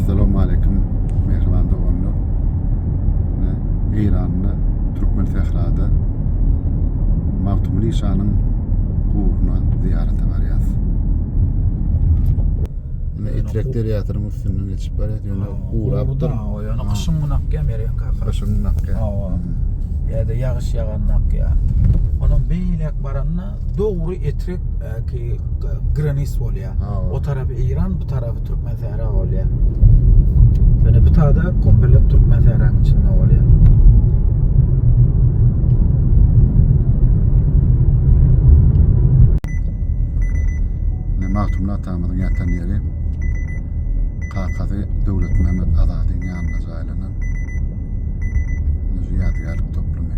Assalamu aleykum mehriban doganlar. Ne Eýranda, Türkmen Sährada Magtymguly şanyň gubruna zyýarata barýas. Ne itlek derýasynyň üstünden geçip barýas, ýöne gurapdyr. O ýöne gyşyň gün akýan berýän kaka. Gyşyň gün akýan. Hawa. Ýa-da ýagyş ýaganda akýan. Onuň beýläk baranda Dogry etrek ki granis bolýa. O tarapy Iran, bu tarapy Türkmen sähra bolýa. Ýöne bu tada komplet Türkmen sähranyň içinde bolýa. Magtymly atamyzyň ýatan ýeri kakasy Döwlet Mehmet Azadyň ýanyna jaýlanan ýadygärlik toplumy.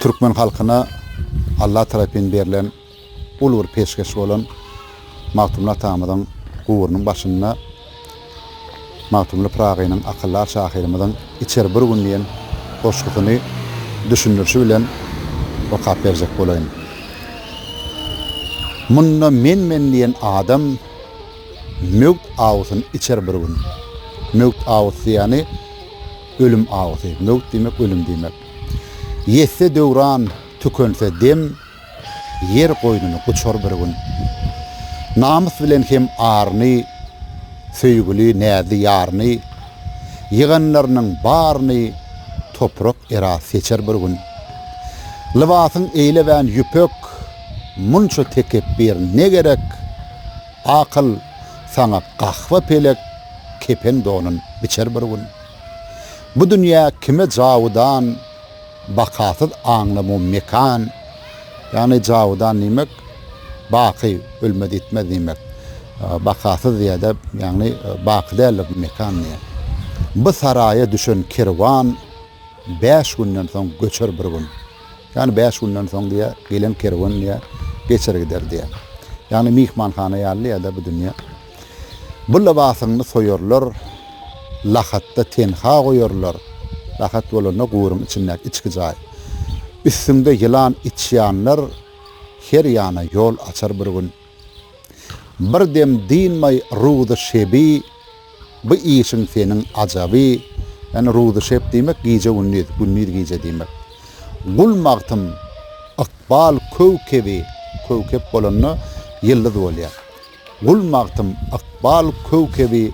Türkmen halkyna Alla tarapyn berlen uly bir peşgeş bolan Magtymguly atamyzyň guburynyň başynda Magtymguly Pyragynyň akyldar şahyrymyzyň Içer bir gün diýen goşgusyny düşündirişi bilen okap berjek bolaýyn. Munda men-men diýen adam möwt awusyny içer bir gün. Möwt awusy ýany ölüm awusy. Möwt diýmek ölüm diýmek. Ýetse döwran, tükense dem, Ýer goýnuny guçar bir gün. Namys bilen hem aryny, Söýgüli, näzli ýaryny, Ýyganlarynyň baryny Toprak era seçer bir gün. Lybasyň eýlewän ýüpek, Munça tekepbir ne gerek? Akyl, saňa gahwa pelek Kepen-donun biçer bir gün. Bu dünýä kime jawudan, bakasyz aňly mum mekan, ýagny jawudan diýmek, baky, ölmez-ýitmez diýmek, bakasyz diýýär-de, ýagny baky däldir bu mekan diýýär. Bu saraýa düşen kerwan bäş günden soň göçer bir gün. Ýagny bäş günden soň diýýär, gelen kerwen diýýär, geçer gider diýýär. Ýagny myhmanhana ýaly diýýär-de bu dünýä. Bu lybasyňny soýarlar, lahatda tenha goýarlar, lahat bolanda guburyň içindäki içki jaý. Üstüňde ýylan içýanlar her ýana ýol açar bir gün. Bir dem dynmaý ruzy şebi, bu işiň seniň ajaby, ýagny ruzy şep diýmek gije-gündiz, gündiz-gije diýmek. Gul magtym, ykbal köw-kebi, köw-kep bolanda ýyldyz bolýar. Gul magtym ykbal köwkebi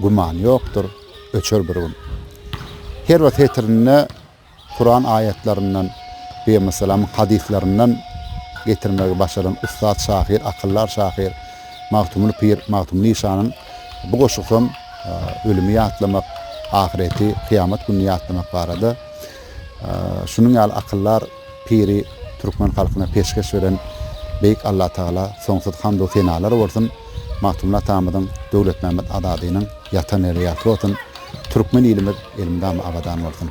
Güman ýokdur, öçer bir gün. Her bir setirinde Kuran aýatlaryndan, Pygambersallamyň hadyslaryndan getirmegi başaran ussat şahyr, akyldar şahyr Magtymguly Pyr Magtymguly işanyň bu goşgusam ölümi ýatlamak, ahyreti, kyýamat gününi ýatlamak barada şunuň ýaly akyldar Piri türkmen halkyna peşgeş beren Beýik Allatagala soňsuz hamd-u senalar bolsun, Magtymguly atamyzyň, Döwletmämmet Azadynyň ýatan ýeri ýagty bolsun, türkmen ilimiz elmydama abadan bolsun!